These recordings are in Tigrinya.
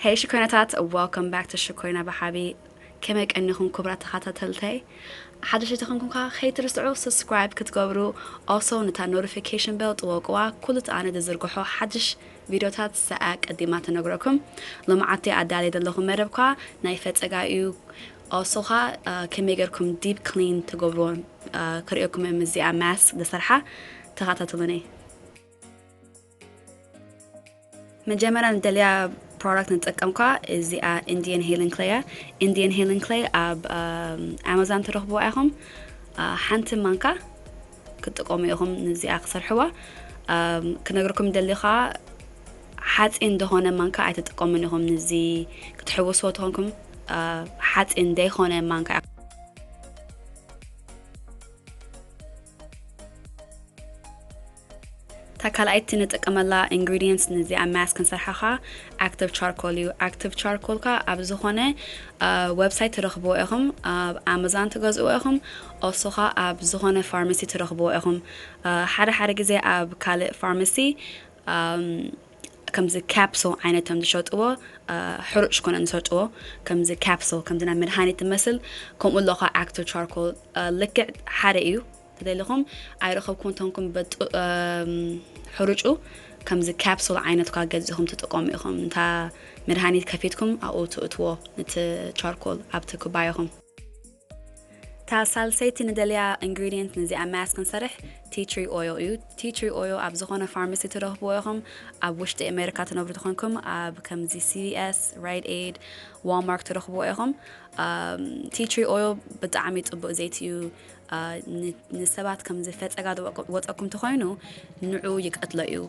Hey ሽኮይናታት Welcome back to ሽኮይና ብሓቢ ከመይ ቀኒኹም ኩብራት ተኻታተልተይ ሓደሽቲ ተኾንኩም ከኣ ከይትርስዑ subscribe ክትገብሩ also ንታ notification bell ጥወቅዋ ኩሉ እቲ ኣነ ዝዝርግሖ ሓድሽ ቪድዮታት ሰኣ ቀዲማ ተነግረኩም ሎምዓቲ ኣዳልየ ዘለኹም መደብ ከኣ ናይ ፈጸጋ እዩ also ከኣ ከመይ ጌርኩም deep clean ትገብርዎ ክርእየኩም እየ ምስዚኣ mask ዝሰርሓ ተኻታተሉኒ መጀመርያ ንደልያ ፕሮዳክት ንጥቀምኳ እዚኣ ኢንዲየን ሄልን ክለይ እያ ኢንዲየን ሄልን ክለይ ኣብ ኣማዛን ትረኽብዋ ኢኹም ሓንቲ ማንካ ክጥቀሙ ኢኹም ንዚኣ ክሰርሕዋ ክነግርኩም ደሊ ከዓ ሓፂን ደኾነ ማንካ ኣይትጥቀሙን ኢኹም ንዚ ክትሕወስዎ ተኾንኩም ሓፂን ደይኮነ ማንካ እታ ካልኣይቲ ንጥቀመላ ኢንግሪዲየንትስ ንዚኣ ማስክ ክንሰርሓ ከኣ ኣክቲቭ ቻርኮል እዩ። ኣክቲቭ ቻርኮል ከኣ ኣብ ዝኾነ ዌብሳይት ትረኽብዎ ኢኹም፣ ኣብ ኣማዛን ትገዝእዎ ኢኹም፣ ኦልሶ ከኣ ኣብ ዝኾነ ፋርማሲ ትረኽብዎ ኢኹም። ሓደ ሓደ ግዜ ኣብ ካልእ ፋርማሲ ከምዚ ካፕሱል ዓይነት እዮም ዝሸጥዎ፣ ሕሩጭ ኮነን ዝሸጥዎ ከምዚ ካፕሱል ከምዚ ናይ መድሃኒት ዝመስል ከምኡ ኣሎ ከኣ ኣክቲቭ ቻርኮል ልክዕ ሓደ እዩ። ተደሊኹም ኣይረኸብኩን ተንኩም በጡ ሕሩጩ ከምዚ ካፕሱል ዓይነት ኳ ገዚኹም ትጥቀሙ ኢኹም እንታ መድሃኒት ከፊትኩም ኣብኡ ትእትዎ ንቲ ቻርኮል ኣብቲ ኩባያኹም እታ ሳልሰይቲ ንደልያ ኢንግሪድንት ንዚኣ ማስክ ክንሰርሕ ቲትሪ ኦዮ እዩ ቲትሪ ኦዮ ኣብ ዝኾነ ፋርማሲ ትረኽብዎ ኢኹም ኣብ ውሽጢ ኣሜሪካ ትነብሩ ትኾንኩም ኣብ ከምዚ ሲቪኤስ ራይድ ኤድ ዋልማርክ ትረኽብዎ ኢኹም ቲትሪ ኦዮ ብጣዕሚ ፅቡቅ ዘይቲ እዩ ንሰባት ከምዚ ፈጸጋ ዝወጸኩም ተኮይኑ ንዑ ይቀትሎ እዩ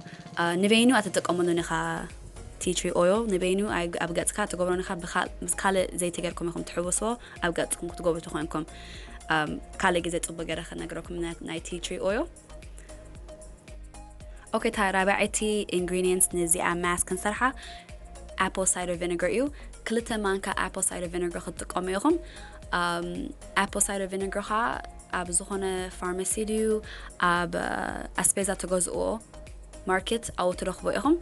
ንበይኑ ኣትጥቀመሉን ኢካ ቲ ትሪ ኦይል ንበይኑ ኣብ ገጽካ ትገብሮን ኢካ ምስ ካልእ ዘይቲ ገርኩም ኢኩም ትሕውስዎ ኣብ ገጽኩም ክትገብሩ ተኮይንኩም ካልእ ግዜ ጽቡቅ ገረ ክነግረኩም ናይ ቲ ትሪ ኦይል ኦኬ እታ ራብዐይቲ ኢንግሪዲየንት ነዚኣ ማስክ ክንሰርሓ ኣፕል ሳይደር ቪነገር እዩ ክልተ ማንካ ኣፕል ሳይደር ቪነገር ክትጥቀሙ ኢኹም ኣፕል ሳይደር ቪነገር ከዓ ኣብ ዝኾነ ፋርማሲ ድዩ ኣብ ኣስፔዛ ተገዝእዎ ማርኬት ኣብኡ ትረኽቦ ኢኹም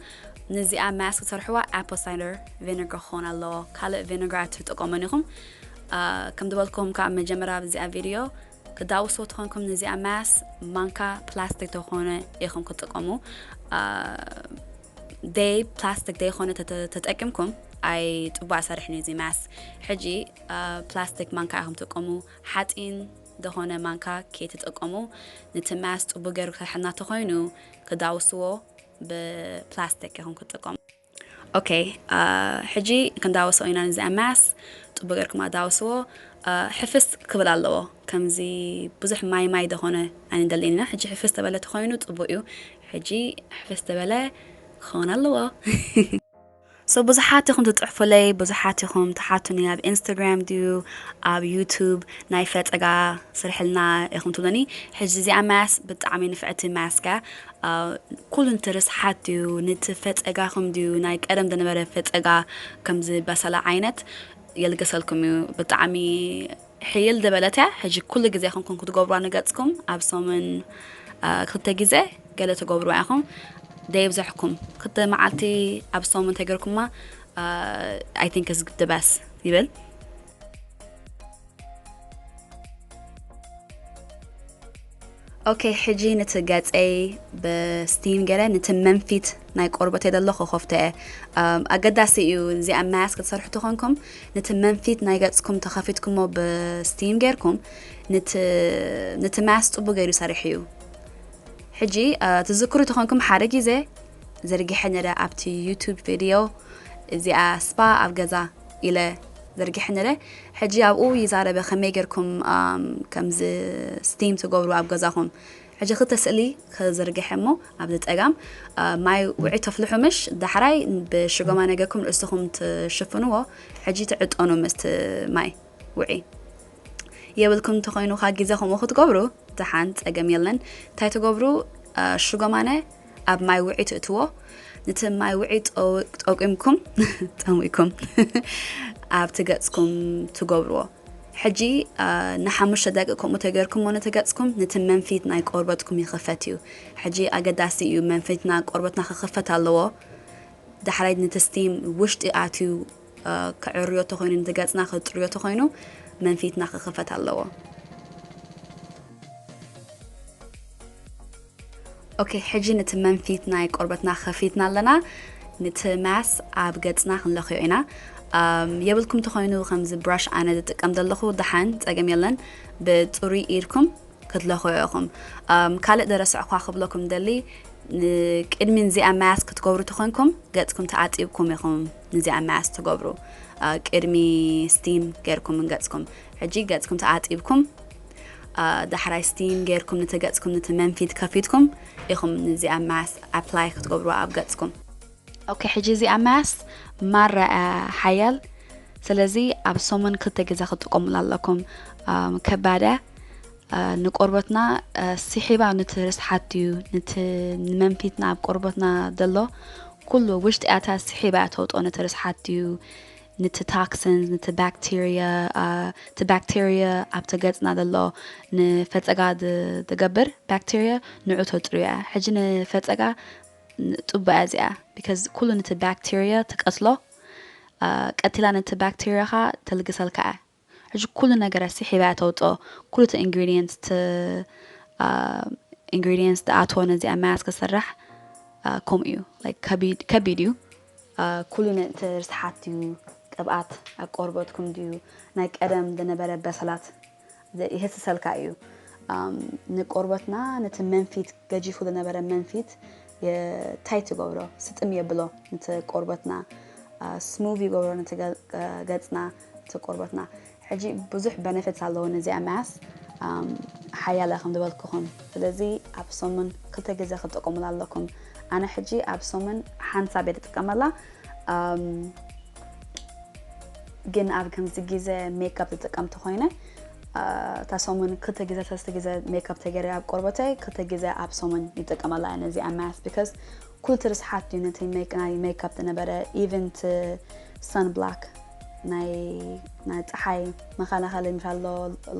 ነዚኣ ማስክ ትሰርሕዋ ኣፕል ሳይደር ቪነገር ክኸውን ኣለዎ ካልእ ቪነገር ኣትጥቀሙን ኢኹም ከም ዝበልኩም ካብ መጀመርያ ኣብዚኣ ቪድዮ ክዳውስዎ ተኾንኩም ንዚኣ ማስ ማንካ ፕላስቲክ ተኾነ ኢኹም ክጥቀሙ ደይ ፕላስቲክ ደይኾነ ተጠቂምኩም ኣይ ፅቡቅ ኣሰርሕን እዩ እዚ ማስ ሕጂ ፕላስቲክ ማንካ ኢኹም ትጥቀሙ ሓፂን ዝኾነ ማንካ ከይትጥቀሙ ነቲ ማስ ፅቡቅ ገይሩ ክሰርሐልና ተኾይኑ ክዳውስዎ ብፕላስቲክ ኢኹም ክጥቀሙ Ok ሕጂ ክንዳወሶ ኢና ንዚ MS ጽቡቅ ገርኩም ኣዳውስዎ ሕፍስ ክብል ኣለዎ ከምዚ ብዙሕ ማይ ማይ ደኮነ ኣይንደልን ኢና ሕጂ ሕፍስ ተበለ ተኮይኑ ጽቡቅ እዩ ሕጂ ሕፍስ ተበለ ክኸውን ኣለዎ። So ብዙሓት ኢኹም ትጽሕፉለይ ብዙሓት ኢኹም ትሓቱኒ ኣብ ኢንስታግራም ድዩ ኣብ ዩቱብ ናይ ፈጸጋ ስርሕልና ኢኹም ትብሉኒ ሕጂ እዚኣ ማስ ብጣዕሚ ንፍዕቲ ማስካ ኩሉ ንትርስሓት ድዩ ንቲ ፈጸጋኹም ድዩ ናይ ቀደም ዝነበረ ፈጸጋ ከምዚ በሰላ ዓይነት የልግሰልኩም እዩ ብጣዕሚ ሕይል ዝበለት እያ ሕጂ ኩሉ ግዜ ከምኩም ክትገብሯ ንገጽኩም ኣብ ሰሙን ክልተ ግዜ ገለ ትገብርዋ ኢኹም ደይብዘሕኩም ክልተ መዓልቲ ኣብ ሰሙን ተገርኩማ ኣይ ቲንክ ስ ድበስ ይብል ኦኬ ሕጂ ነቲ ገጸይ ብስቲም ገለ ነቲ መንፊት ናይ ቆርበተይ ዘሎ ክኸፍቶ እየ ኣገዳሲ እዩ እዚ ኣብ ማያስ ክትሰርሑ ተኾንኩም ነቲ መንፊት ናይ ገጽኩም ተኸፊትኩሞ ብስቲም ጌርኩም ነቲ ማያስ ጽቡቅ ገይሩ ይሰርሕ እዩ ሕጂ ትዝክሩ ተኾንኩም ሓደ ግዜ ዘርጊሐ ነረ ኣብቲ ዩቱብ ቪድዮ እዚኣ ስፓ ኣብ ገዛ ኢለ ዘርጊሐ ነረ ሕጂ ኣብኡ ይዛረበ ከመይ ጌርኩም ከምዚ ስቲም ትገብሩ ኣብ ገዛኹም ሕጂ ክልተ ስእሊ ክዝርግሐ እሞ ኣብዚ ጸጋም ማይ ውዒ ተፍልሑ ምሽ ዳሕራይ ብሽጎማ ነገርኩም ርእስኹም ትሽፍንዎ ሕጂ ትዕጠኑ ምስቲ ማይ ውዒ የብልኩም እንተኾይኑ ካ ግዜ ከምኡ ክትገብሩ ደሓን ጸገም የለን እንታይ ትገብሩ ሽጎማነ ኣብ ማይ ውዒ ትእትዎ ነቲ ማይ ውዒ ጠቂምኩም ጠሚኩም ኣብቲ ገፅኩም ትገብርዎ ሕጂ ንሓሙሽተ ደቂ ከምኡ ተገርኩም ሞ ነተገፅኩም ነቲ መንፊት ናይ ቆርበትኩም ይኽፈት እዩ ሕጂ ኣገዳሲ እዩ መንፊትና ቆርበትና ክኽፈት ኣለዎ ዳሕራይ ነቲ ስቲም ውሽጢ ኣትዩ ክዕርዮ ተኾይኑ ነቲ ገጽና ክጽርዮ ተኾይኑ መንፊትና ክኽፈት ኣለዎ። ኦኬ ሕጂ ነቲ መንፊት ናይ ቆርበትና ከፊትና ኣለና ነቲ ማስ ኣብ ገጽና ክንለኽዮ ኢና የብልኩም ተኾይኑ ከምዚ ብራሽ ኣነ ዝጥቀም ዘለኹ ደሓን ጸገም የለን ብጽሩይ ኢድኩም ክትለኽዑ ኢኹም። ኣም፣ ካልእ ደረሰዕ እኳ ክብለኩም እደሊ፣ ንቅድሚ ንዚኣ ማያስ ክትገብሩ ተኾይንኩም፣ ገጽኩም ተኣጢብኩም ኢኹም ንዚኣ ማያስ ትገብሩ። ኣ፣ ቅድሚ ስቲም ጌርኩም እንገጽኩም። ሕጂ ገጽኩም ተኣጢብኩም፣ ኣ፣ ዳሕራይ ስቲም ጌርኩም ነቲ ገጽኩም ነቲ መንፊት ከፊትኩም ኢኹም ንዚኣ ማያስ ኣፕላይ ክትገብሩዋ ኣብ ገጽኩም። ኦኬ ሕጂ እዚኣ ማስ ማራ ሓያል ስለዚ ኣብ ሰሙን ክልተ ግዜ ክትጥቀሙላ ኣለኩም ከባዳ ንቆርበትና ስሒባ ንቲ ርስሓት እዩ ንቲ ንመንፊትና ኣብ ቆርበትና ዘሎ ኩሉ ውሽጢ ያታ ስሒባ እያ ተውጦ ንቲ ርስሓት እዩ ንቲ ታክሲንስ ንቲ ባክቴርያ እቲ ባክቴርያ ኣብቲ ገጽና ዘሎ ንፈጸጋ ዝገብር ባክቴርያ ንዑ ተጽርዩ እያ ሕጂ ንፈጸጋ ንጡበያ እዚኣ because ኩሉ ነቲ ባክተርያ ትቀትሎ ቀቲላ ነቲ ባክተርያ ከኣ ተልግሰልካ እያ ሕጂ ኩሉ ነገራ ስሒባ እያ ተውጽኦ ኩሉ እቲ ኢንግሪዲየንትስ እቲ ኢንግሪዲየንትስ ትኣትዎ ነዚኣ ማያስ ክስራሕ ከምኡ እዩ ከቢድ እዩ ኩሉ ነቲ ርስሓት እዩ ቅብኣት ኣብ ቆርበትኩም ድዩ ናይ ቀደም ዝነበረ በሰላት የህስሰልካ እዩ ንቆርበትና ነቲ መንፊት ገጂፉ ዝነበረ መንፊት ታይ ትገብሮ ስጥም የብሎ ነቲ ቆርበትና ስሙቭ ይገብሮ ነቲ ገፅና እቲ ቆርበትና ሕጂ ብዙሕ በነፊትስ ኣለዎ ነዚኣ ማስ ሓያለ ከም ዝበልኩኹም ስለዚ ኣብ ሰሙን ክልተ ግዜ ክትጥቀሙላ ኣለኩም ኣነ ሕጂ ኣብ ሰሙን ሓንሳብ እየ ዝጥቀመላ ግን ኣብ ከምዚ ግዜ ሜክኣፕ ዝጥቀም ተኾይነ እታ ሰሙን ክልተ ግዜ ሰለስተ ግዜ ሜክኣፕ ተገይረ ኣብ ቆርበተይ ክልተ ግዜ ኣብ ሰሙን ይጥቀመላ እየ ነዚ ኣብ ማስ ቢካዝ ኩሉ ትርስሓት እዩ ነቲ ናይ ሜክኣፕ ዝነበረ ኢቨን ቲ ሰን ብላክ ናይ ናይ ፀሓይ መኸላኸሊ ምሻሎ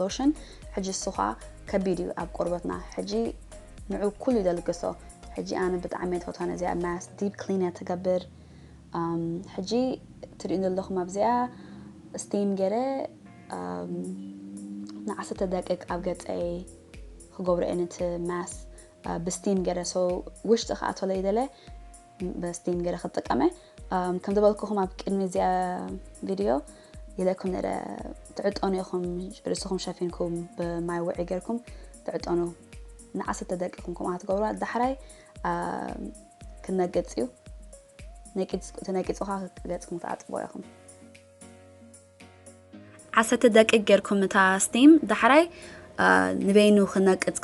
ሎሽን ሕጂ እሱ ኸዓ ከቢድ እዩ ኣብ ቆርበትና ሕጂ ንዑ ኩሉ ይደልግሶ ሕጂ ኣነ ብጣዕሚ እየ ዝፈትዋ ነዚኣ ማስክ ዲፕ ክሊን እያ ትገብር ሕጂ ትሪኡ ዘለኹም ኣብዚኣ ስቲም ገረ ንዓሰርተ ደቂቅ ኣብ ገፀይ ክገብሮ እየ ነቲ ማስ ብስቲም ገረ ሰው ውሽጢ ክኣተለ ይደለ ብስቲም ገረ ክጥቀመ ከም ዝበልኩኹም ኣብ ቅድሚ እዚኣ ቪድዮ ይለኩም ነረ ትዕጠኑ ኢኹም ርእስኹም ሸፊንኩም ብማይ ውዒ ገርኩም ትዕጠኑ ንዓሰርተ ደቂቅን ከምኡ ትገብርዋ ዳሕራይ ክነቅፅ እዩ ተነቂፁ ከዓ ገፅኩም ትኣጥቦ ኢኹም ዓሰርተ ደቂቅ ጌርኩም እታ ስቲም ዳሕራይ ንበይኑ ክነቅፅ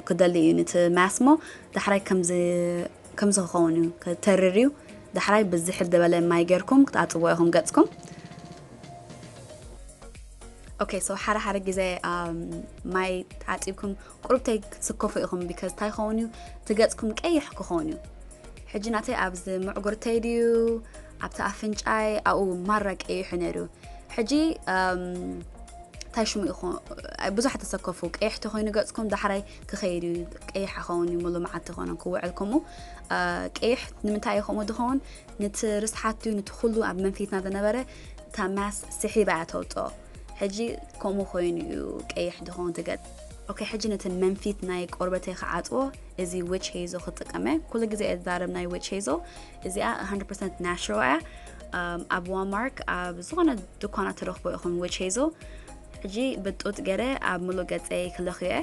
ክደሊ እዩ ንቲ ማስሞ ዳሕራይ ከምዚ ክኸውን እዩ ክተርር እዩ ዳሕራይ ብዝሕል ዝበለ ማይ ጌርኩም ክትኣፅዎ ኢኹም ገፅኩም ኦኬ ሶ ሓደ ሓደ ግዜ ማይ ተዓፂብኩም ቁርብተይ ክትስከፉ ኢኹም ቢካዝ እንታይ ይኸውን እዩ ትገፅኩም ቀይሕ ክኸውን እዩ ሕጂ ናተይ ኣብዚ ምዕጉርተይ ድዩ ኣብቲ ኣፍንጫይ ኣብኡ ማራ ቀይሑ ነይሩ ሕጂ እንታይ ሽሙ ኢኹ ብዙሓት ተሰከፉ ቀይሕ ተኮይኑ ገፅኩም ዳሕራይ ክኸይድ እዩ ቀይሕ ክኸውን እዩ ሙሉ መዓልቲ ኮነ ክውዕል ከምኡ ቀይሕ ንምንታይ እዩ ከምኡ ዝኸውን ንቲ ርስሓት ድዩ ንቲ ኩሉ ኣብ መንፊትና ዝነበረ እታ ማስ ስሒባ እያ ተውፅኦ ሕጂ ከምኡ ኮይኑ እዩ ቀይሕ ድኾን ትገጥ ኦኬ ሕጂ ነቲ መንፊት ናይ ቆርበተይ ክዓፅዎ እዚ ዊች ሄዞ ክጥቀመ ኩሉ ግዜ እየ ዝዛረብ ናይ ዊች ሄዞ እዚኣ 100 ናሽራል እያ ኣብ ዋማርክ ኣብ ዝኾነ ድኳና ትረኽቦ ኢኹም ዊች ሄዞ ሕጂ ብጡጥ ገረ ኣብ ምሉእ ገፀይ ክለኽዮ እየ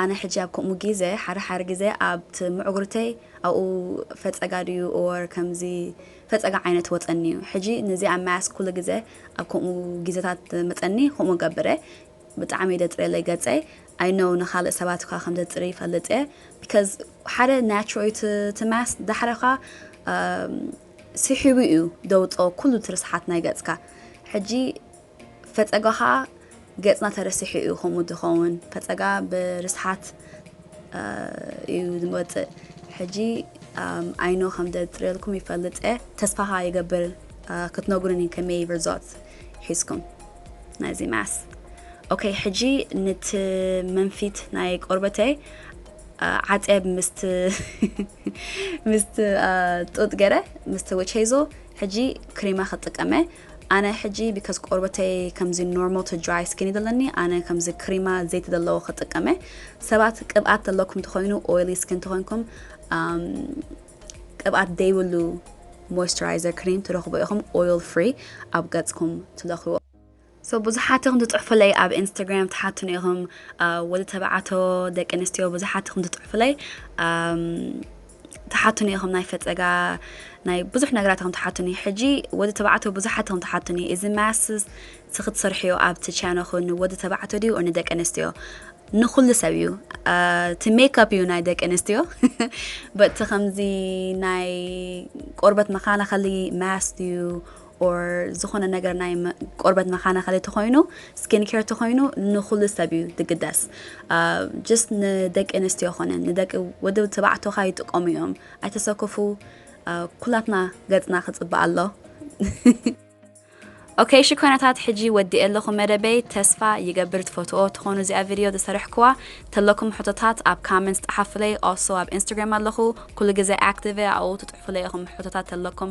ኣነ ሕጂ ኣብ ከምኡ ጊዘ ሓረ ሓረ ጊዘ ኣብት ምዕጉርተይ ኣብኡ ፈጸጋ ድዩ or ከምዚ ፈጸጋ ዓይነት ወጸኒ እዩ ሕጂ ነዚ ኣብ ማያስ ኩሉ ጊዘ ኣብ ከምኡ ጊዘታት መጸኒ ከምኡ ገብረ ብጣዕሚ ደጽርየለይ ገጸይ i know ንካልእ ሰባት እኳ ከም ዘጽሪ ይፈልጥ እየ because ሓደ ናቹራል እዩ እቲ ማያስ ዳሕረ እኳ ስሒቡ እዩ ደውጾ ኩሉ እቲ ርስሓት ናይ ገጽካ ሕጂ ፈፀጋ ኸዓ ገፅና ተረሲሑ እዩ ከምኡ ዝኸውን ፈፀጋ ብርስሓት እዩ ዝወፅእ ሕጂ ኣይኖ ከም ዘፅርየልኩም ይፈልጥ እየ ተስፋ ኸዓ ይገብር ክትነግሩኒ ከመይ ርዞት ሒዝኩም ናይዚ ማስ ኦኬ ሕጂ ንቲ መንፊት ናይ ቆርበተይ ዓፀብ ምስት ምስት ጡጥ ገረ ምስት ወቸይዞ ሕጂ ክሬማ ክጥቀመ ኣነ ሕጂ ቢከዝ ቆርበተይ ከምዚ ኖርማል ቱ ድራይ ስኪኒ ዘለኒ ኣነ ከምዚ ክሪማ ዘይቲ ዘለዎ ክጥቀመ ሰባት ቅብኣት ዘለኩም ተኮይኑ ኦይሊ ስኪን ተኮይንኩም ቅብኣት ደይብሉ ሞይስቸራይዘር ክሪም ትረክቡ ኢኹም ኦይል ፍሪ ኣብ ገጽኩም ትለክዎ ሶ ብዙሓት ኢኹም ትፅሑፉለይ ኣብ ኢንስታግራም ትሓቱኒ ኢኹም ወዲ ተባዕቶ ደቂ ኣንስትዮ ብዙሓት ኢኹም ትፅሑፉለይ ተሓቱኒ ኢኹም ናይ ፈጸጋ ናይ ብዙሕ ነገራት ኢኹም ተሓቱኒ ሕጂ ወዲ ተባዕቶ ብዙሓት ኢኹም ተሓቱኒ እዚ ማስ ስክትሰርሕዮ ኣብቲ ቻነኹ ንወዲ ተባዕቶ ድዩ ንደቂ ኣንስትዮ ንኩሉ ሰብ እዩ እቲ ሜካፕ እዩ ናይ ደቂ ኣንስትዮ በቲ ከምዚ ናይ ቆርበት መከላኸሊ ማስ እዩ or ዝኾነ ነገር ናይ ቆርበት መከናኸሊ ተኾይኑ ስኪን ኬር ተኾይኑ ንኹሉ ሰብ እዩ ዝግደስ ጀስት ንደቂ ኣንስትዮ ኮነ ንደቂ ወዲ ተባዕቶ ካ ይጥቀሙ እዮም ኣይተሰከፉ ኩላትና ገፅና ክፅባእ ኣሎ ኦኬ እሺ ኮይነታት ሕጂ ወዲኤ ኣለኹ መደበይ ተስፋ ይገብር ትፈትዎ ትኾኑ እዚኣ ቪድዮ ዝሰርሕክዋ ተለኩም ሕቶታት ኣብ ካመንት ጸሓፉለይ ኦሶ ኣብ ኢንስታግራም ኣለኹ ኩሉ ግዜ ኣክቲቭ ኣብኡ ትጽሕፉለይ ኢኹም ሕቶታት ተለኩም